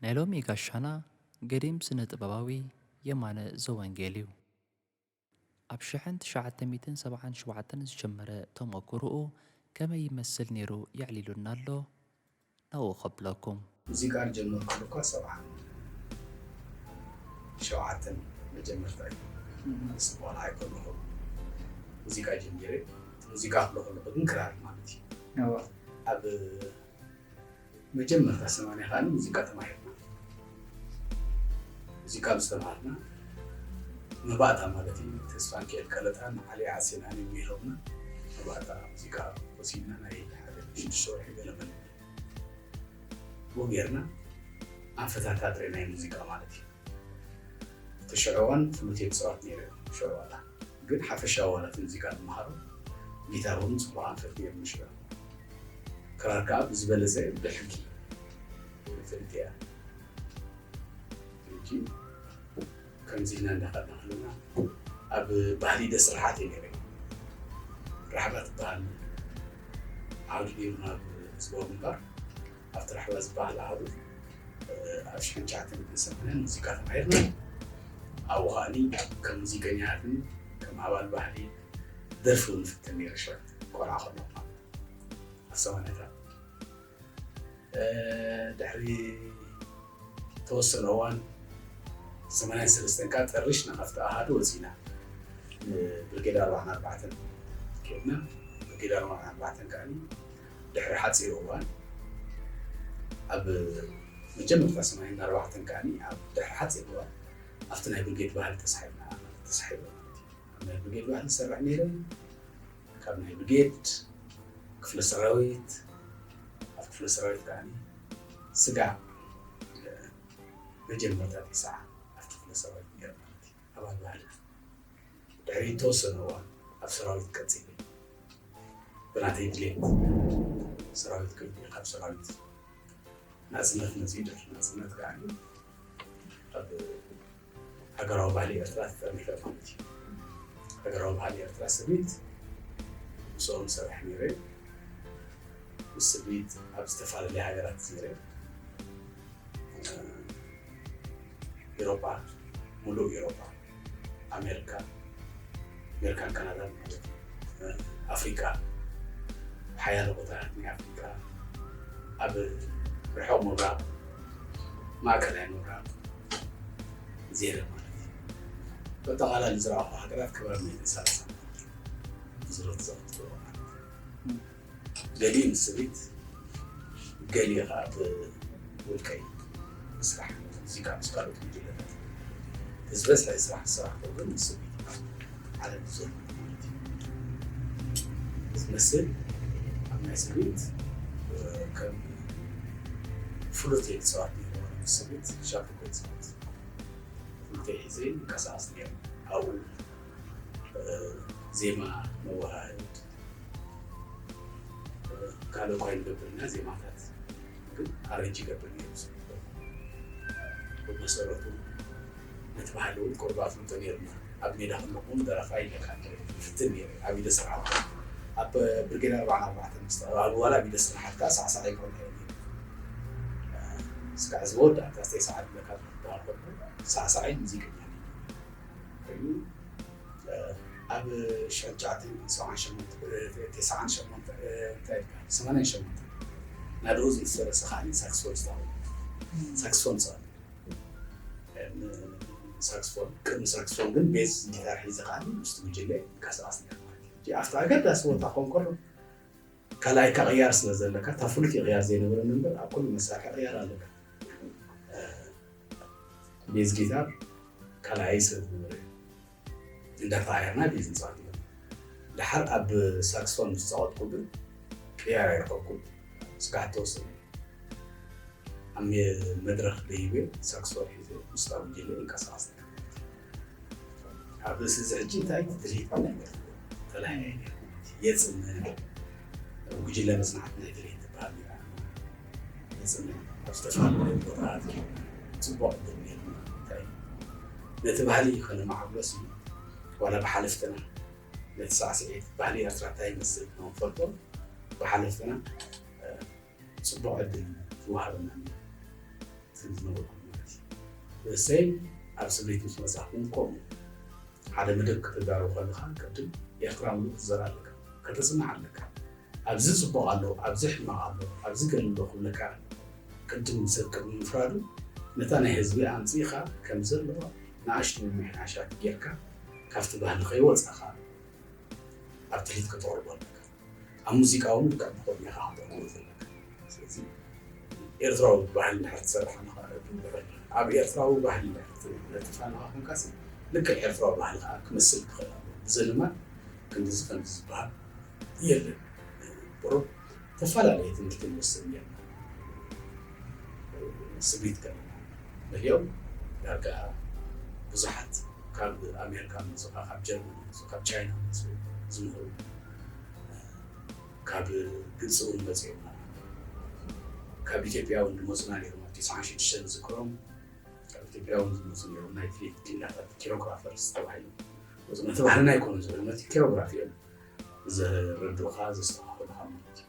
ናይ ሎሚ ጋሻና ገዲም ስነ-ጥበባዊ የማነ ዘወንጌል'ዩ። ኣብ ሽሕን ትሽዓተ ሚእትን ሰብዓን ሸውዓተን ዝጀመረ ተሞኩሩኡ ከመይ ይመስል ኔሩ የዕሊሉና ኣሎ ናብኡ ከብለኩም። ሙዚቃ ዝጀመርኩሉ እኳ ሰብዓን ሸውዓተን መጀመርታ'ዩ ኣነስ ቆልዓ ኣይኮነኹን ሙዚቃ ጀሚረ እቲ ሙዚቃ ክብሎ ከለኹ ግን ክራር ማለት'ዩ ኣብ መጀመርታ ሰማንያ ከኣ ሙዚቃ ተማሂርና። ሙዚቃ ምስ ተማሃርና መባእታ ማለት እዩ ንተስፋንኪኤል ቀለታ ንዓሊ ዓሴናን እዮም መሂሮምና። መባእታ ሙዚቃ ወሲድና ናይ ሓደ ሽዱሽተ ወርሒ ገለ መለመዲ ብኡ ጌርና ኣንፈታት ኣጥሪናዮ ሙዚቃ ማለት እዩ። እቲ ሽዑ እዋን ፍሉት እየ ክጽዋት ነይረ ሽዑ ዋላ ግን ሓፈሻዊ ዋላ እቲ ሙዚቃ ትመሃሮ ጊታር ውን ጽቡቕ ኣንፈት ኔሩ ንሽዑ ክራር ከኣ ብዝበለጸ ብሕጊ ንፍልጥ እያ ሕጂ ከምዚ ኢልና እንዳኸድና ከለና ኣብ ባህሊ ደስ ርሓት እየ ኔረ ራሕባ ትበሃል ዓውዲ ኔሩና ኣብ ህዝባዊ ግንባር ኣብቲ ራሕዋ ዝበሃል ኣሃዱ ኣብ ሽሕን ትሽዓተን ክንሰምዐን ሙዚቃ ተማሂርና። ኣብኡ ከኣኒ ከም ሙዚቀኛ ኣድኒ ከም ኣባል ባህሊ ደርፊ እውን እፍትን ነይረ ሽዑ ቆልዓ ከለኹ ማለት እዩ። ኣብ ሰማንያታት ድሕሪ ዝተወሰነ እዋን ሰማንያን ሰለስተን ከኣ ጠርሽ ናብ ኣብቲ ኣሃዱ ወጺእና። ንብርጌድ ኣርብዓን ኣርባዕተን ኬድና። ብርጌድ ኣርብዓን ኣርባዕተን ከኣኒ ድሕሪ ሓጺር እዋን ኣብ መጀመርታ ሰማንያን ኣርባዕተን ከኣኒ ኣብ ድሕሪ ሓጺር እዋን ኣብቲ ናይ ብርጌድ ባህሊ ተሳሒብና ተሳሒበ ማለት እዩ። ኣብ ናይ ብርጌድ ባህሊ ዝሰርሕ ነይረ። ካብ ናይ ብርጌድ፣ ክፍለ ሰራዊት፣ ኣብ ክፍለ ሰራዊት ከዓኒ ስጋዕ መጀመርታ ዲሳዓ ኣብቲ ክፍለ ሰራዊት ነይረ ማለት እዩ። ኣባል ባህሊ ድሕሪ ዝተወሰነ እዋን ኣብ ሰራዊት ቀፂለ ብናተይ ድሌት ሰራዊት ክልኩ ካብ ሰራዊት ናፅነት መፅኡ ድሕሪ ናፅነት ከዓኒ ኣብ ሃገራዊ ባህሊ ኤርትራ ተጠርኒፈ ማለት እዩ። ሃገራዊ ባህሊ ኤርትራ ስርሚት ምስኦም እሰርሕ ነይረ። ምስ ስርሚት ኣብ ዝተፈላለያ ሃገራት ዜረ። ኢሮጳ ሙሉእ ኢሮጳ፣ ኣሜርካ፣ ኣሜርካን ካናዳን ማለት እዩ። ኣፍሪቃ ሓያለ ቦታታት ናይ ኣፍሪቃ፣ ኣብ ርሑቕ ምብራቕ፣ ማእከላይ ምብራቕ፣ ዜረ ማለት እዩ። በጠቓላሊ ዝረኣኹ ሃገራት ክብረ መይት ሰላሳ ማለት እዩ። ብዝሮት ዘቕጥሎ ማለት እዩ። ገሊኡ ንስሪት ገሊኡ ከዓ ብውልቀይ ምስራሕ እዚካ ምስ ካልኦት ጉጅለታት ዝበዝሐ ስራሕ ዝሰራሕኩ ግን ንስሪት ዓለም ዘሎ ማለት እዩ ዝመስል ኣብ ናይ ሰብት ከም ፍሉት እየ ዝፅዋዕ ነይረ ምስ ሰብት ሻርኮ እየ ዝፅዋዕ ፍሉተይ ሒዘ ይንቀሳቐስ ነይረ ኣብኡ ዜማ መወሃሃድ ካልእ እኳ ኣይንገብር ኢና ዜማታት ግን ኣረንጅ ይገብር ነይሩ እዚ ነገር ብመሰረቱ ነቲ ባህሊ እውን ቅሩብ ኣፍልጦ ነይሩና ኣብ ሜዳ ከለኹ እውን ደራፋይ ለካ ነይረ ይፍትን ነይረ ኣብ ኢደ ስርሓት ኣብ ብርጌድ ኣርብዓን ኣርባዕተን ምስ ተቐላቐሉ በኋላ ኣብ ኢደ ስርሓት ከዓ ሳዕሳዕ ይብሎ ነይረ እስካዕ ዝወዳእ ጋዜጠይ ሰዓድ ለካ ዝበሃል ኮይኑ ሳዕሳዕይ ሙዚቀኛ ኮይኑ ኣብ ሽሕን ትሽዓተን ሰብዓን ሸሞንተ ተሰዓን ሸሞንተ እንታይ ኢልካ ሰማንያን ሸሞንተን ናደኡ ዘይተሰለሰ ከኣ ሳክስፎኒስታ ኮይኑ ሳክስፎን ጸዋቲ ሳክስፎን ቅድሚ ሳክስፎን ግን ቤዝ ጊታር ሒዘ ከኣ ምስቲ ጉጅለ ይንቀሳቐስ ነይረ ማለት እዩ ኣብቲ ኣገዳሲ ቦታ ክኸውን ከሎ ካልኣይ እካ ቅያር ስለ ዘለካ እታ ፍሉጥ እዩ ቅያር ዘይነበረኒ እምበር ኣብ ኩሉ መሳርሒ ቅያር ኣለካ ቤዝ ጊታር ካልኣይ ስለ ዝነበረ እዩ እንዳተቀያርና ቤዝ ንፃወት ነበር ድሓር ኣብ ሳክስፎን ምስ ፃወትኩ ግን ቅያር ኣይረኸብኩን ስጋዕ ተወሰነ ኣብ መድረኽ ደይበ ሳክስፎን ሒዘ ምስታ ጉጅለ ይንቀሳቀስ ነይረ ኣብ ርእሲ እዚ ሕጂ እንታይ እዩ ድሌት ነገር ጥላይ ናይ ገር የፅም ኣብ ጉጅለ መፅናዕቲ ናይ ድሌት ትበሃል ጌራ የፅም ኣብ ዝተፈላለዩ ቦታታት ጌርና ፅቡቅ ድል ጌርና እንታይ እዩ ነቲ ባህሊ ከነማዕብሎስ እዩ ዋላ ብሓለፍትና ነቲ ሳዕስዒት ባህሊ ኤርትራ እንታይ ይመስል ንክንፈልጦ ብሓለፍትና ጽቡቅ ዕድል እዩ ዝወሃበና ኔሩ ትብል ዝነበርኩ ማለት እዩ ርእሰይ ኣብ ስምዒት ምስ በጻሕኩ ውን ከምኡ ሓደ መደብ ከተዳርው ከለኻ ቅድም ኤርትራውነት ትዘር ኣለካ ከተጽንዕ ኣለካ ኣብዚ ጽቡቅ ኣሎ ኣብዚ ሕማቅ ኣሎ ኣብዚ ገለ ኣሎ ክብለካ ኣለዎ ቅድም ሰብ ቅድሚ ምፍራዱ ነታ ናይ ህዝቢ ኣምጺእኻ ከም ዘለዋ ንኣሽቱ ምምሕያሻት ጌርካ ካብቲ ባህሊ ከይወጻኻ ኣብ ትልሂት ከተቅርቦ ኣለካ። ኣብ ሙዚቃ እውን ልክዕ ብኸምኡ ኢኻ ከተቕርቦ ዘለካ። ስለዚ ኤርትራዊ ባህሊ እንድሕር ትሰርሕ ኣለኻ ኣብ ኤርትራዊ ባህሊ እንድሕር ትነጥፍ ኣለኻ ኮንካሲ ልክዕ ኤርትራዊ ባህሊ ከዓ ክመስል ክኽእል ኣለዎ። ብዘልማድ ክንድዚ ከምዚ ዝበሃል የለን። ቁሩብ ተፈላለየ ትምህርቲ ንወስድ ኔርና ስምዒት ከለና በሊኦም ዳርጋ ብዙሓት ካብ ኣሜሪካ መጹ ካብ ጀርመን መጹ ካብ ቻይና መጹ ዝምህሩ ካብ ግብፂ እውን መፂኦምና ካብ ኢትዮጵያ እውን ዝመፁና ነይሮም ኣብ ትስዓን ሽዱሽተን ዝዝክሮም ካብ ኢትዮጵያ እውን ዝመፁ ነይሮም ናይ ፊሊፕ ኪንዳታት ኪሮግራፈርስ ተባሂሎም ወፅና ተባህልና ኣይኮኑ ዝብለ ማለት ኪሮግራፍ እዮም ዘረዱኻ ዘስተኻኽሉኻ ማለት እዩ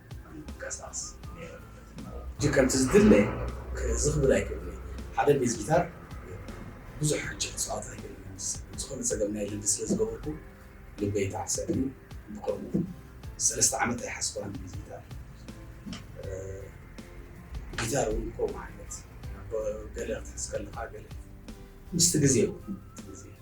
ይንቀሳቐስ ነይረ ማለት እዩ። ሕጂ ከምቲ ዝድለ ክእዝዝ ክብል ኣይክእልን እየ። ሓደ ቤዝ ጊታር ብዙሕ ሕጂ ክጻወት ኣይክእልን እየ ምስ ዝኾነ ጸገም ናይ ልምዲ ስለ ዝገበርኩ ልበይ ይተዓሰል እዩ። ብከምኡ ሰለስተ ዓመት ኣይሓዝኩዋን ቤዝ ጊታር። ጊታር እውን ከምኡ ዓይነት ገለ ክትሕዝ ከለኻ ገለ ምስቲ ግዜ እውን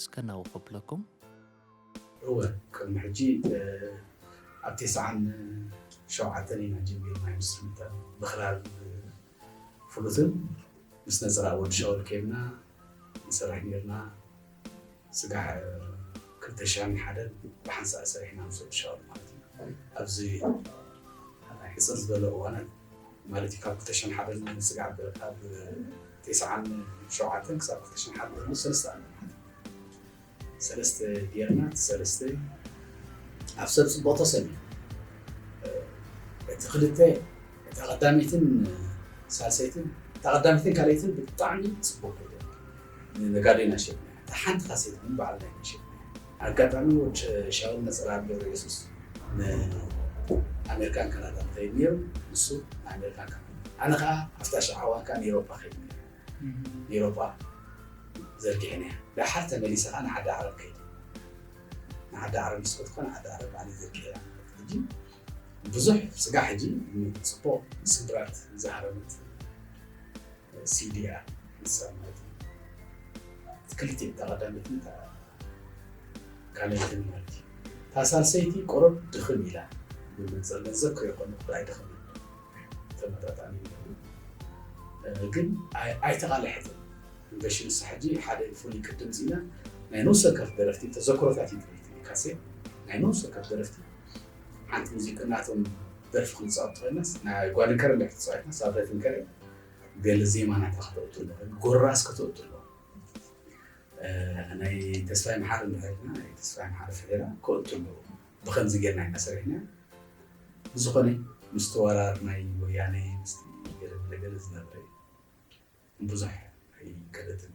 እስከ ናብኡ ከብለኩም። እወ ቅድሚ ሕጂ ኣብ ቴስዓን ሸውዓተን ኢና ጀሚርናዮ ምስ ሪሚታን ብክራር ፍሉትን ምስ ነጸላ ወዲ ሻውል ኬድና ንሰርሕ ኔርና ስጋዕ ክልተ ሽሕን ሓደን ብሓንሳእ ሰሪሕና ምስ ወዲ ሻውል ማለት እዩ ኣብዚ ሕጽር ዝበለ እዋናት ማለት እዩ ካብ ክልተ ሽሕን ሓደን ስጋዕ ኣብ ትስዓን ሸውዓተን ክሳብ ክልተሽሕን ሓደ ኮይኑ ሰለስተ ኣለና ሰለስተ ጌርና እቲ ሰለስተ ኣብ ሰብ ፅቡቅ ተሰብ እቲ ክልተ እታ ቀዳመይትን ሳልሰይትን እታ ቀዳመይትን ካልኣይትን ብጣዕሚ ፅቡቅ ነጋዴና ሸጥና እታ ሓንቲ ካሴት ግን ባዕልና ኢና ሸጥና ኣጋጣሚ ወድ ሻውል ነጸላ ገብረየሱስ ንኣሜርካን ካናዳን ይኸይድ ነይሩ ንሱ ንኣሜርካን ካናዳን ኣነ ከኣ ኣብታ ሽዓ እዋን ከኣ ንኤሮፓ ከይድ ነይረ ንኤሮፓ ዘርጊሐንያ ደሓር ተመሊሰ ከኣ ንዓዲ ዓረብ ከይደ ንዓዲ ዓረብ ምስ ከድኩ ከኣ ንዓዲ ዓረብ ባዕለይ ዘርጊሐያ ማለት ሕጂ ብዙሕ ስጋዕ ሕጂ ጽቡቕ ስብራት ዝሃረመት። ሲድያ ንሰብመዚ እቲ ክልቲኤን እታ ቀዳመይትን እታ ካልኣይትን ማለት እዩ እታ ሳልሰይቲ ቁሩብ ድኽም ኢላ ብመንፅር ገንዘብ ከይኾነ እምበር ኣይደኸመን ተመጣጣኒ ይኹን ግን ኣይተቓለሐትን ኢንቨሽን ንሳ ሕጂ ሓደ ፍሉይ ቅድም ዚና ናይ ነብሰ ወከፍ ደረፍቲ ተዘክሮታት እዩ ትብል ትብል ካሴ ናይ ነብሰ ወከፍ ደረፍቲ ሓንቲ ሙዚቃ ናቶም ደርፊ ክንፃወት ኮይናስ ናይ ጓድንከረ እንድሕር ተፃዊትና ሳብረትንከረ ገለ ዜማ ናታ ከተእቱ ኣለዎ ጎራስ ከተእቱ ኣለዎ ናይ ተስፋይ መሓሪ ንድሕርና ናይ ተስፋይ መሓሪ ፍሒራ ከእቱ ኣለዎ ብከምዚ ጌርና ኢና ሰሪሕና ብዝኾነ ምስቲ ወራር ናይ ወያነ ምስቲ ገለ ገለ ዝነበረ ብዙሕ ኣይከደትን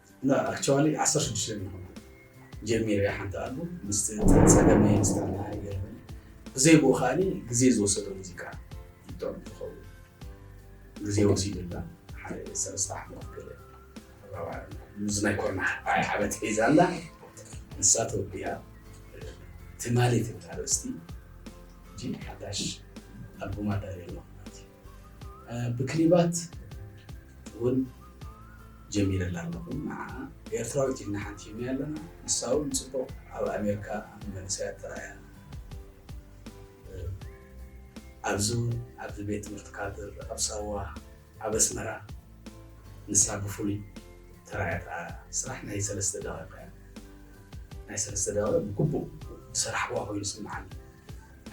እና ኣክቸዋሊ ዓሰርተ ሽዱሽተ ንኾና ጀሚረ እየ ሓንቲ ኣልቡም ምስቲ ፀገመይ ምስ ተረዳኣ ይገርመኒ ብዘይብኡ ከኣ ግዜ ዝወሰዶ ሙዚቃ እዩ ጥዑም ዝኸውን ግዜ ወሲዱላ ሓደ ሰለስተ ዓመት ገለ እዚ ናይ ኮርና ዓመት ሒዛ ኣላ ንሳ ተወዲኣ ትማሊ ትብል ኣርእስቲ እንጂ ሓዳሽ ኣልቡም ኣዳልየ ኣለኹ ማለት እዩ ብክሊባት እውን ጀሚረላ ኣለኹ ንዓኣ ኤርትራዊት ኢልና ሓንቲምናያ ኣለና ንሳ ውን ጽቡቕ ኣብ ኣሜርካ ንመንእሰያት ተራእያ ኣብዚ ውን ኣብዚ ቤት ትምህርቲ ካድር ኣብ ሳዋ ኣብ ኣስመራ ንሳ ብፍሉይ ተራእያ ተኣ ስራሕ ናይ ሰለስተ ደቒቕ እያ ናይ ሰለስተ ደቒቕ ብግቡእ ዝሰራሕኩዋ ኮይኑ ይስምዓኒ።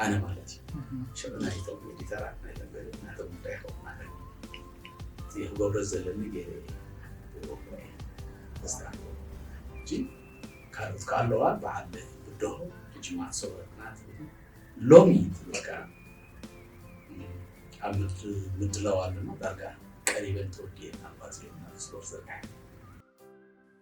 ኣነ ማለት እዩ ሽዑ ናይቶም ኤዲተራት ናይቶም ገለ ናቶም ጉዳይ ይኸውን ማለት እዩ እቲ ክገብሮ ዘለኒ ገይረ እየ ክገብሮ እየ ዘስተካክሎ ሕጂ ካልኦት ከዓ ኣለዋ በዓል ብድሆ ሕጂ ማዕሶ ወረቅና ትብል ሎሚ ትብል ከዓ ኣብ ምድላው ኣለና ዳርጋ ቀሪበን ተወዲኤን ኣባ ፅዮን ናብ ስፖርት ዘርግሐን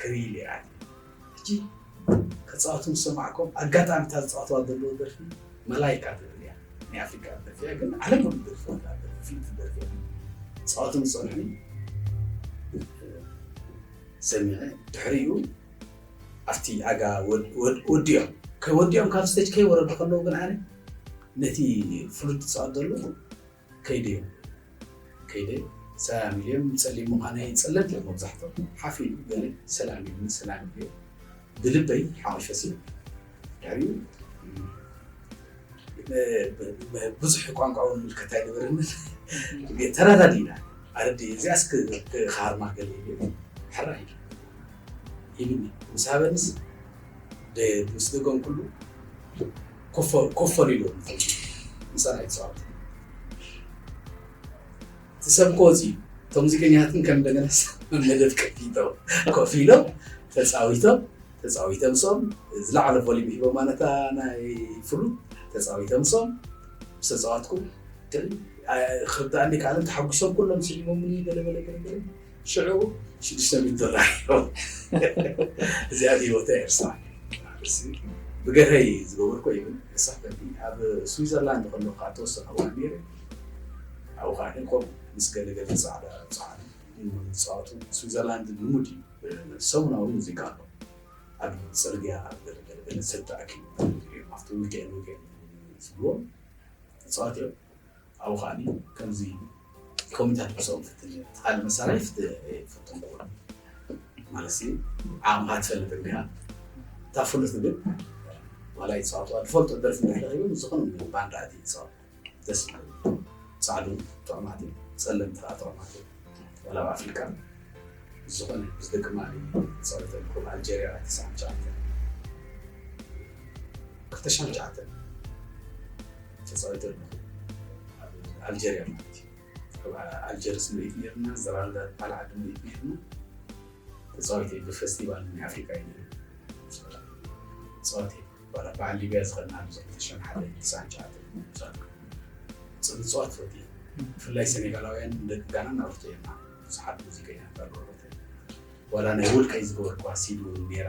ክሪኢ ሊራኒ ሕጂ ከጻወቱ ምስ ሰማዕኩም ኣጋጣሚ እታ ዝጻወትዋ ዘለዉ ደርፊ መላይካ ትብል እያ ናይ ኣፍሪቃ ደርፊ እያ ግን ዓለም ኩሉ ደርፍታ ደርፊ ፍልጥቲ ደርፊ እያ ጻወቱ ምስ ጸንሑኒ ሰሚዐ ድሕሪኡ ኣብቲ ኣጋ ወዲኦም ከወዲኦም ካብ ስተጅ ከይወረዱ ከለዉ ግን ኣነ ነቲ ፍሉጥ ዝጻወት ዘሎ ከይደዮ ከይደ ሰላም ኢልዮም ጸሊም ምዃነይ ጸለምቲ እዮም መብዛሕቶም ሓፍ ኢሉ ገለ ሰላም ኢሉኒ ሰላም ኢልዮ ብልበይ ሓወሸሲ ድሕሪኡ ብዙሕ ቋንቋ እውን ምልከታ ኣይነበረንን ግን ተረዳዲእና ኣረዲ እዚኣስ ክሃርማ ገለ ኢልዮ ሕራ ኢሉ ኢሉኒ ምስ ሃበንስ ምስ ደገምኩሉ ኮፍ ኮፍ ኣቢሉ እንተሎ ምሳና ይጻወት ትሰብኮ እዚ እቶም ሙዚቀኛታትን ከም እንደገና መደብ ከፊቶም ኮፍ ኢሎም ተጻዊቶም ተጻዊቶም ሶም ዝለዓለ ቮሊም ሂቦ ማለታ ናይ ፍሉት ተጻዊቶም ሶም ምስ ተጻዋትኩ ክርዳእኒ ከዓለም ተሓጒሶም ኩሎም ስዒቦምኒ ገለገለ ገለገለ ሽዑ ሽዱሽተ ሚእቲ ጥራይ ኢሎም እዚኣ ሂወተይ ኣይርስዓን ብገርሀይ ዝገበርኩ ይብል የሳሕተኒ ኣብ ስዊዘርላንድ ከለኩ ከዓ ተወሰነ እዋን ነይረ ኣብኡ ከዓ ከምኡ ምስ ገለገለ ፃዕዳ ብዙሓት ዝፃወቱ ስዊዘርላንድ ልሙድ እዩ ሰሙናዊ ሙዚቃ ኣሎ ኣብ ፅርግያ ኣብ ገለገለ ገለ ሰብ ተኣኪቡ ኣብቲ ውልቀ ውልቀ ዝብልዎም ተፃወት እዮም ኣብኡ ከኣኒ ከምዚ ኮሚታት ብሰው ትትል ትቃል መሳራይ ፍትም ኩ ማለሲ ዓቕምካ ትፈልጥ እንዲኻ እታ ፍሉት ግን ዋላ ይፃወቱ ኣልፈልጦ ደርፊ ንሕለዩ ዝኾነ ባንዳ እቲ ይፃወት ደስ ፃዕዱ ጥዑማት እዩ ፀለምቲ ከዓ ጥዑማት እዩ ዋላ ኣብ ኣፍሪካ ዝኾነ ምስ ደቂ ማሊ ፀወተ ኮብ ኣልጀሪያ ትስዓን ሸዓተ ክልተ ሸዓን ሸዓተ ተፃዊተ ኣለኹ ኣብ ኣልጀርያ ማለት እዩ ኣብ ኣልጀርስ ምርኢት ነይሩና ዘራልዳ ዝበሃል ዓዲ ምርኢት ነይሩና ተፃዊተ ብፈስቲቫል ናይ ኣፍሪካ እዩ ነይሩ ተፃዊተ ባላ በዓል ሊብያ ዝኸድና ኣብ ክልተ ሽሕን ሓደ ትስዓን ሸዓተን ምፃት ፅን ፅዋት ፈት እዩ ብፍላይ ሴኔጋላውያን ደቂ ጋና ናብርቶ እዮም ብዙሓት ሙዚቀኛታት ኣለዎ ዋላ ናይ ውልቀይ ዝገበርኩዋ ሲዲ እውን ነይራ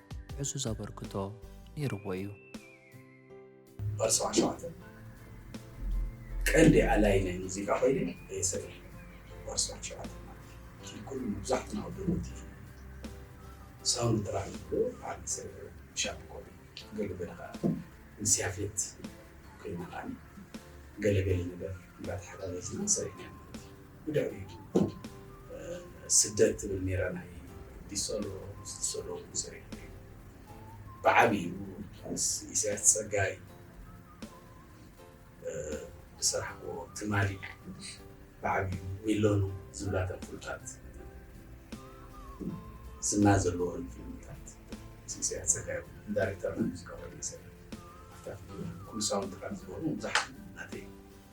ዕዙዝ ኣበርክቶ ነይርዎ እዩ። ፓርት ሰብዓን ሸውዓተን ቀንዲ ኣላዪ ናይ ሙዚቃ ኮይነ እየ ሰሪሐ። ፓርት ሰብዓን ሸውዓተን ማለት እቲ ኩሉ መብዛሕትና ኣብ ደቡብ ቲቪ ሳውንድ ትራክ ዝብሎ ዓቢ ስርሒ ሻብ ኮነ። ገለ ገለ ከኣ ምስ ያፌት ኮይና ከኣ ገለ ገለ ነገር እንዳተሓጋገዝና ሰሪሕና ኢና ማለት እዩ። ብድሕሪቱ ስደት ትብል ኔራ ናይ ቢሶሎ ምስ ቢሶሎ እውን ሰሪሑ እዩ ብዓቢኡ ምስ ኢሳያስ ጸጋይ ዝሰራሕክዎ ትማሊ ብዓቢኡ ሚሎኑ ዝብላ እተን ፍሉጣት ዝና ዘለወን ፊልምታት ምስ ኢሳያስ ጸጋይ እውን ዳይሬክተር ናይ ሙዚቃ ኮይኑ ይሰርሕ ኣፍታት ኩሉ ሳውንድ ትራክ ዝበሉ ብዙሓት ናተይ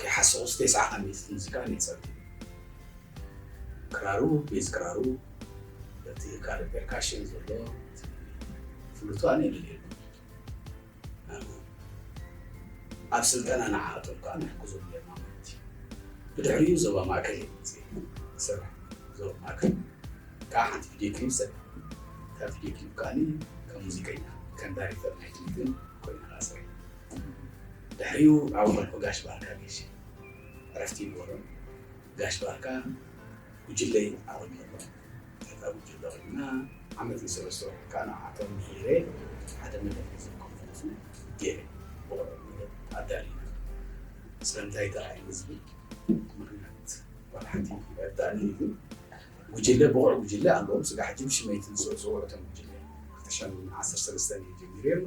ከይሓሰኹስ ቴስዓ ዓመት ሙዚቃ ነይጸልት እዩ። ክራሩ፣ ቤዝ ክራሩ፣ በቲ ካልእ ፔርካሽን ዘሎ እቲ ፍሉቱ ኣነ የድልየኒ። ኣብ ስልጠና ንዓኣቶም ከኣ ንሕግዞም ጌርና ማለት እዩ። ብድሕሪኡ ዞባ ማእከል እየ መጺኤ ክሰርሕ። ዞባ ማእከል ከኣ ሓንቲ ቪድዮ ክሊፕ ሰሪሐ። እታ ቪድዮ ክሊፕ ከኣ ከም ሙዚቀኛ ከም ዳይሬክተር ናይ ክሊፕን ኮይነ ከኣ ሰሪሐ። ድሕሪኡ ኣብ ወልፎ ጋሽ ባርካ ጌሽ ዕረፍቲ ይግበሩን ጋሽ ባርካ ጉጅለይ ኣቆሚሩ ኣብታ ጉጅለ ኮይንና ዓመት ንሰለስተ ወርሒ ከኣ ንዓቶም ምሂሬ ሓደ መደብ ገንዘብ ኮንፈረንስነ ጌሬ ብቑዕ መደብ ኣዳሊና ስለምንታይ ተራእይኒ ዝብል ምኽንያት ዋላ ሓንቲ ኣይርድኣንን ኢዩ ጉጅለ ብቑዕ ጉጅለ ኣለዎም ስጋብ ሕጂ ብሽመይ ትንስኡ ጽውዑ እቶም ጉጅለ ክልተ ሽሕን ዓሰርተ ሰለስተን ኢየ ጀሚሬ እሞ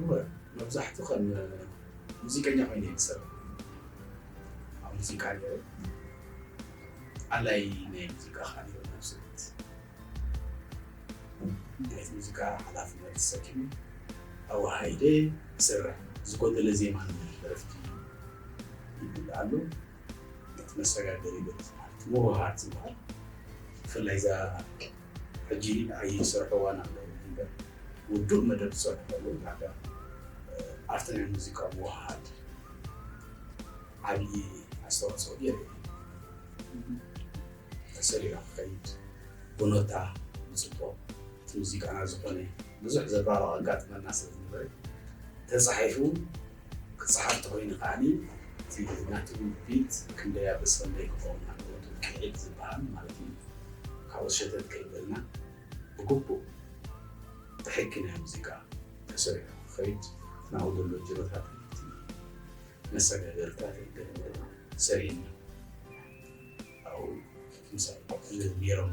እወ መብዛሕቱ ከም ሙዚቀኛ ኮይነ እየ ዝሰርሕ ኣብ ሙዚቃ ነይረ ኣላይ ናይ ሙዚቃ ከዓ ነይረ ናብ ስደት ናይ ሙዚቃ ሓላፍነት ተሰኪሙ ተዋሂደ ይሰርሕ ዝጎደለ ዜማ ደረፍቲ ይብል ኣሎ ነቲ መሰጋገሪ ማለት ምውህሃድ ዝበሃል ብፍላይ እዛ ሕጂ ንዓይ ዝሰርሖ እዋን ኣሎ እንበር ውዱእ መደብ ትሰርሑ ከለዉ ዳርጋ ኣርት ናይ ሙዚቃ ምውህሃድ ዓብዪ ኣስተዋጽኦ ጌሩ እዩ። ተሰሪዑ ክኸይድ ብኖታ ብጽቡቕ እቲ ሙዚቃና ዝኾነ ብዙሕ ዘባርቕ ኣጋጥመና ስለ ዝነበረ ተጻሒፉ ክጽሓፍ ተኾይኑ ከኣ እቲ ናቱ ቢት ክንደይ ኣብ ርእሲ ክንደይ ክኸውን ኣለዎ እቲ ውቅዒት ዝበሃል ማለት እዩ ካልኦት ሸተት ከይበልና ብግቡእ ብሕጊ ናይ ሙዚቃ ተሰሪሑ ክኸይድ ናሁ ዘሎ ጅሮታት መሰጋገሪታት ሰሪሕና ኣብኡ ምሳይ ነይሮም።